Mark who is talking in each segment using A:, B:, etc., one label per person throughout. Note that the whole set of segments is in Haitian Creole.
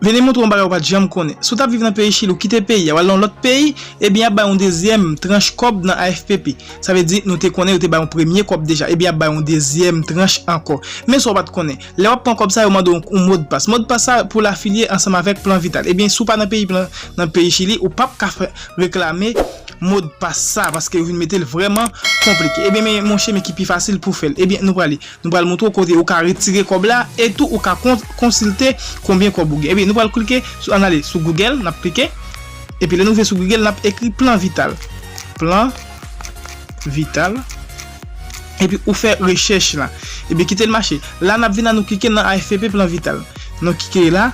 A: Vini moutre yon bagay ou pat janm konnen. Si w tap viv nan peyi chili ou kite peyi a wal nan yon lòt peyi ebyen yap bay yon dezyèm tranch kòb nan AFPP sa vle di nou te konnen yo te bay yon premye kòb deja ebyen yap bay yon dezyèm tranch ankò men sa w pat konnen lè wap pran kòb sa yo mande w yon modpas modpas sa pou l afilye ansanm avèk plan vital ebyen si w pa nan peyi plan nan peyi chili ou pap ka reklame modpas sa paske yo vin mete l vrèman konplike ebyen men monche men ki pi fasil pou fè l ebyen nou prale. Nou pral montre w kote ou ka retire kòb la e tou ou ka konsilte konbyen kòb ou gen. Epi nou pral klike sou ann ale sou Google, n ap klike. Epi lè nou rive sou Google n ap ekri plan vital. Plan vital. Epi ou fè rechèch la. Epi kite l mache. La n ap vin la nou klike nan AFPP plan vital. Nou klike la.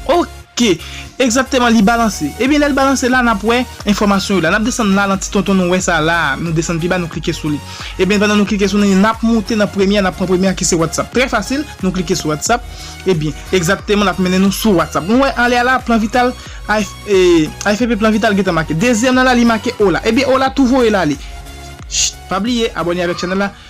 A: Ok. Ke, egzakteman li balanse. Ebyen lè l balanse la, n ap wè enfòmasyon yo la. N ap desann la nan ti tonton nou wè sa a la a, nou desann pi ba nou klike sou li. Ebyen pandan nou klike sou li, n ap moute nan premye a, n ap pran premye a ki se WhatsApp. Trè fasil, nou klike sou WhatsApp, ebyen, egzakteman l ap mennen nou sou WhatsApp. Nou wè anlè a la, Plan Vital, AFP Plan Vital gentan make. Dezyèm nan la li make Hola. Ebyen Hola tou voye l ale. Chtt! Pa bliye abòne avèk chanèl la,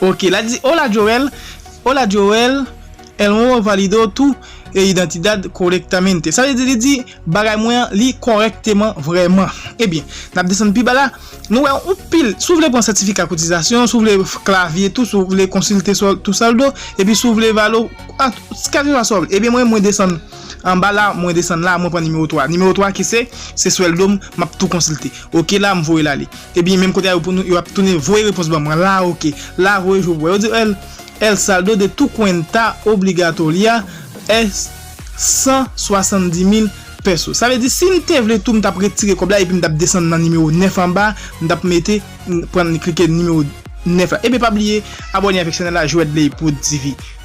A: Ok la di hola Joel hola Joel el nuevo valido tu identidad correctamente sa vle di li di bagay mwen an li kòrèkteman vrèman ebyen nap desann pi ba la nou wè yon pil si w vle pran sètifika kotizasyon si w vle klavye tou si w vle konsilte sou tu saldo epi si w vle valo kèlkeswa sa w vle ebyen mwen mwen desann anba la mwen desann la mwen pran nimewo 3 nimewo 3 ki se se swèldo m map tou konsilte ok la m voye l ale. Ebyen menm kote a yo pou nou yo ap tounen voye repons ban mwen la ok la voye jou pou wè yo di el el saldo de tu cuenta obligatoria es 170.000 peso sa vle di si m te vle tou m tap retire kòb la epi m tap desann nan nimewo 9 anba m tap mete pran klike nimewo 9 la ebyen pa bliye abòne avèk chanèl la Joëdley Prod TV.